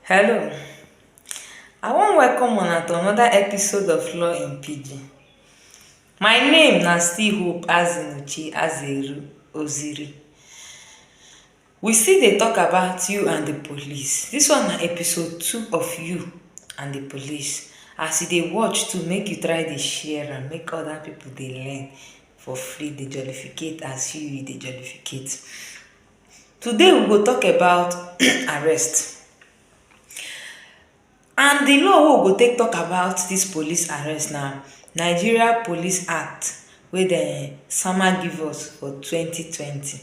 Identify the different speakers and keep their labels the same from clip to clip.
Speaker 1: Hello, I wan welcome una to another episode of Law in Pidgin. My name na still Hope Azimuchi Azeru Oziri. We still dey talk about you and the police. This one na episode two of you and the police. As you dey watch too, make you try dey share am, make other people dey learn for free, dey jollificate as you you dey jollificate. Today we go talk about arrest and di law wey we go take talk about dis police arrest na Nigeria police act wey dem sama give us for twenty twenty.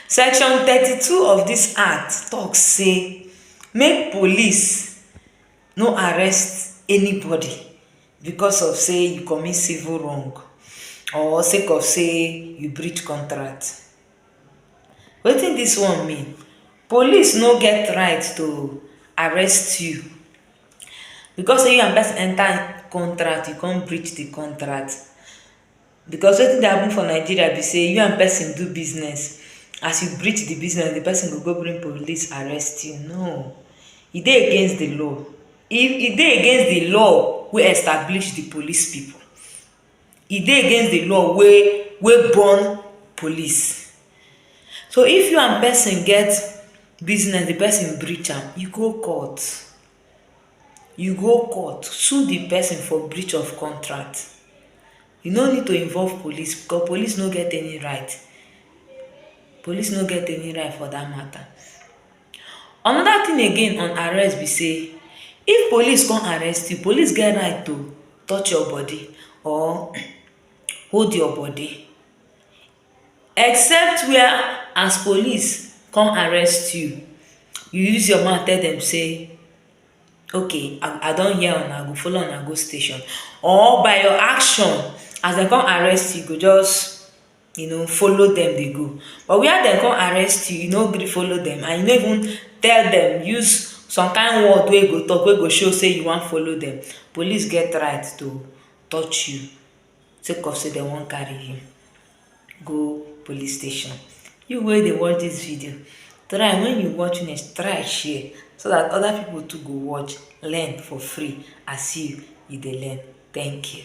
Speaker 1: Section thirty two of dis act talk say make police no arrest anybody because of say e commit civil wrong or sake of say e breach contract. Wetin dis one mean? Police no get right to arrest you because sey you and pesin enter contract, you come breach the contract. Because wetin dey happen for Nigeria be sey you and pesin do business, as you breach the business, the pesin go go bring police arrest you. No. E dey against the law. E e dey against the law wey establish the police pipu. e dey against di law wey wey born police so if you and person get business di person breach am you go court you go court sue di person for breach of contract you no need to involve police because police no get any right police no get any right for dat matter Anoda tin again on arrest be say if police come arrest you, police get right to touch your body or hold your body except wia as police come arrest you, you use your mouth tell dem say okay I don hear una I go follow una go station or by your action as dem come arrest you, you go just. you know follow dem dey go but where dem come arrest you, you no gree follow dem and you no even tell dem use some kind word wey you go talk wey go show sey you wan follow dem police get right to touch you sake of sey dem wan carry you go police station. You wey dey watch dis video try wen you watch finish try share so dat other people too go watch learn for free as you you dey learn thank you.